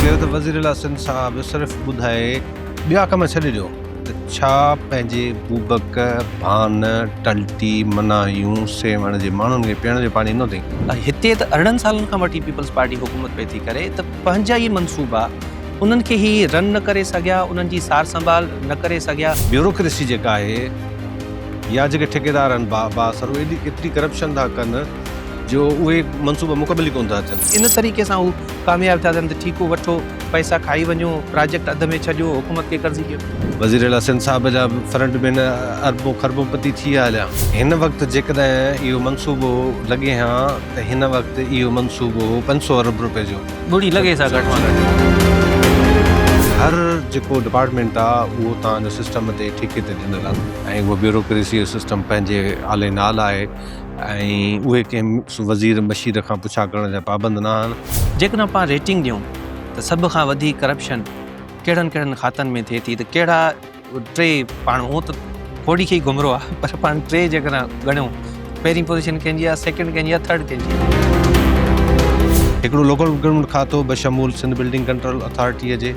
ڪيو ته وزيراعليٰ سنڌ صاحب صرف ٻڌائي ٻيا ڪم ڇڏي ڏيو ته ڇا پنهنجي بوبڪ، ڀان، ٽلٽي، منايون، سيوهڻ جي ماڻهن کي پيئڻ جو پاڻي نه ڏئي؟ هتي ته ارڙهن سالن کان وٺي پيپلز پارٽي حڪومت پئي ٿي ڪري ته پنهنجا ئي منصوبا انهن کي هي رن نه ڪري سگهيا، انهن جي سارسنڀال نه ڪري سگهيا. بيوروڪريسي جيڪا آهي. يا جيڪي ٺيڪيدار آهن با بااثر اهي ايڏي ايتري ڪرپشن ٿا ڪن جو اهي منصوبا مڪمل ئي ڪونه ٿا ٿين. ان طريقي سان هو ڪامياب ٿا ٿين ته ٺيڪو وٺو، پئسا کائي وڃو، پراجيڪٽ اڌ ۾ ڇڏيو، حڪومت کي قرضي ڏيو. وزير اعليٰ سنڌ صاحب جا فرنٽ مين اربون خربون پتي ٿي ويا هليا. هن وقت جيڪڏهن اهو منصوبو لڳي هان ته هن وقت اهو منصوبو هو پنج سؤ ارب روپين جو. ڳڙي لڳي سا گهٽ مان گهٽ. هر جيڪو ڊپارٽمينٽ آ اهو توهان جو سسٽم تي ٺيڪي تي ڏنل آ ۽ اهو بيوروڪريسي جو سسٽم پنهنجي آلي نال آهي ۽ اهي ڪنهن وزير مشير کان پڇا ڪرڻ جا پابند نه آهن. جيڪڏهن اسان ريٽنگ ڏيون ته سڀ کان وڌيڪ ڪرپشن ڪهڙن ڪهڙن کاتن ۾ ٿئي ٿي ته ڪهڙا ٽي پاڻ هونء ته ڦوڏي کي ئي گهمرو آ پر پاڻ ٽي جيڪڏهن ڳڻيون پهرين پوزيشن ڪنهن جي آ سيڪنڊ ڪنهن جي آ ٿرڊ ڪنهن جي آ. هڪڙو لوڪل پروڪيورمينٽ کاتو بشمول سنڌ بلڊنگ ڪنٽرول اٿارٽيء جي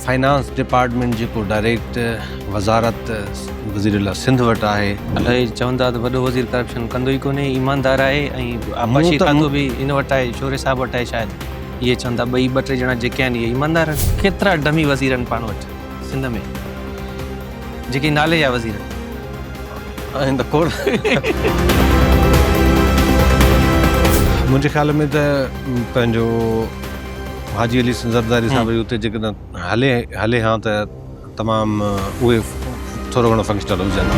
فنانس ڊپارٽمينٽ جيڪو ڊائريڪٽ وزارت وزيراعليٰ سنڌ وٽ آهي. اهي چوندا ته وڏو وزير ڪرپشن ڪندو ئي ڪونهي ايماندار آهي ۽ آبپاشي کاتو به هن وٽ آهي شوري صاحب وٽ آهي شايد اهي چوندا ٻئي ٻه ٽي ڄڻا جيڪي آهن اهي ايماندار آهن ڪيترا ڊمي وزير آهن پاڻ وٽ. سنڌ ۾ جيڪي نالي جا وزير آهن ته کوڙ منهنجي خيال ۾ ته پنهنجو حاجي علي زرداري صاحب جي اتي جيڪڏهن هلي هلي ها ته تمام اهي ٿورو گهڻو فنڪشنل هجن ها.